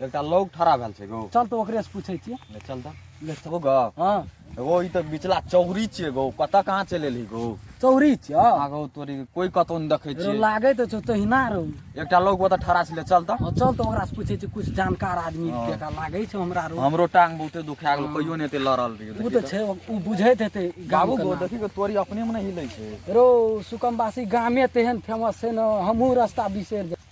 एकटा लोग ठड़ा भेल छै गो चल तऽ ओकरे से पूछै छियै ले चल तऽ ले चल ओ गो हँ एगो ई तऽ बिचला चौरी छियै गो कतऽ कहाँ चलि एलही गो चौरी छियै आगो तोरी कोई कतौ नहि देखै छियै लागै तऽ छौ तहिना रहू एकटा लोग ओतऽ ठड़ा छै ले चल तऽ हँ चल तऽ ओकरा से पूछै छियै कुछ जानकार आदमी हँ। जका लागै छै हमरा रहू हमरो टांग बहुते दुखा गेल कहियो नहि एते लड़ल रहियो ओ तऽ छै ओ बुझैत हेतै गाम बाबू गो देखी गो तोरी अपने मे नहि हिलै छै रो सुकमबासी गामे तेहन फेमस छै ने हमहूँ रस्ता बिसरि जाइ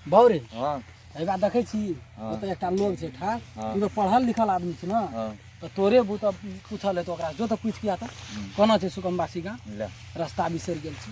बाउरे हाँ एबा देखै छी हाँ। ओतऽ एकटा लोग छै ठार हाँ। तू तऽ पढ़ल लिखल आदमी छी ने हाँ तऽ तोरे बू तऽ पूछल हेतौ ओकरा जो तऽ पूछ किया तऽ हम्म, कोना छै सुकमवासी गाम ले रास्ता बिसरि गेल छी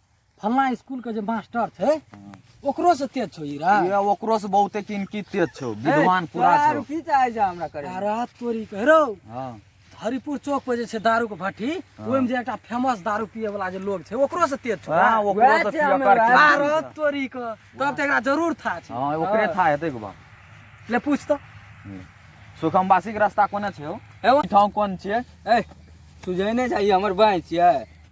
फलना स्कूल के जे मास्टर थे हाँ। ओकरो से तेज छो हीरा ये ओकरो से बहुते किन की तेज छो विद्वान पूरा छो दारू पी चाहे जा हमरा करे अरे तोरी कह रहो हां हरिपुर चौक पर जे छै दारू के भट्टी हाँ। ओहि में जे एकटा फेमस दारू पिए वाला जे लोग छै ओकरो से तेज छो हां ओकरो वैह से छै हमे पियकर वैह। अरे की तोरी के तब ते एकरा जरूर था छै हां ओकरे था हेतै के बा ले पूछ तो सुखमवासी के रास्ता कोने छै हो एवं ठाम कोन छियै ए सुझै नै जाइए हमर बाँइ छियै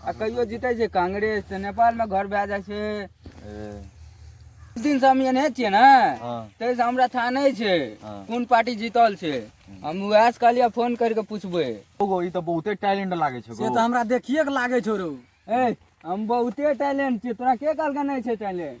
आ कहियो जीते छै कांग्रेस तऽ नेपाल में घर भए जाइ छै दिन से हम एने छियै ने हाँ। ताहिसँ हमरा था नहि छै हाँ। कोन पार्टी जीतल छै हम उएह से कहलियै फोन करि कऽ पुछबै ओगो ई तऽ बहुते टैलेंट लागे छै से तऽ हमरा देखिए के लागे छौ रौ ए हम बहुते टैलेंट छियै तोरा के कहलकै नहि छै टैलेंट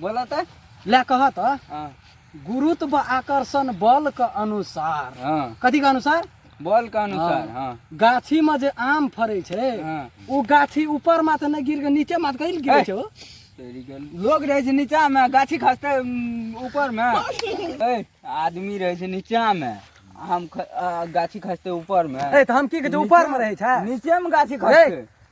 बोला त ले कह त हाँ गुरुत्व आकर्षण बल के अनुसार हाँ कथी के अनुसार बॉल का अनुसार हाँ। हाँ गाछी में जे आम फरे छे हाँ उ गाछी ऊपर माथे न गिर के नीचे माथ कहीं गिरे ए। छे हो। तेरी गल लोग रहे छै नीचा में गाछी खसते उम, ऊपर में ए, आदमी रहे छै नीचा में हम ख, आ, गाछी खसते ऊपर में ए त हम की कहै छे ऊपर में रहे छे नीचे में गाछी ए, खसते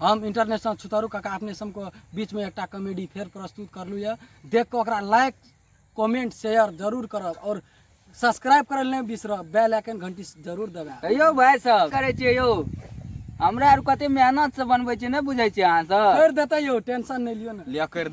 हम इंटरनेशनल छुतरू काका अपने सबके बीचमे एकटा कॉमेडी फेर प्रस्तुत करलू यऽ देख कऽ ओकरा लाइक कमेंट शेयर जरूर करब और सब्सक्राइब करल नहि बिसरब बेल आइकन घंटी जरूर दबाएब यौ भाई सब करे छियै यौ हमरा आर कते मेहनत से बनबै छियै नहि बुझै छियै अहाँ सब कर देतै यौ टेंशन नहि लियो ने लिया कर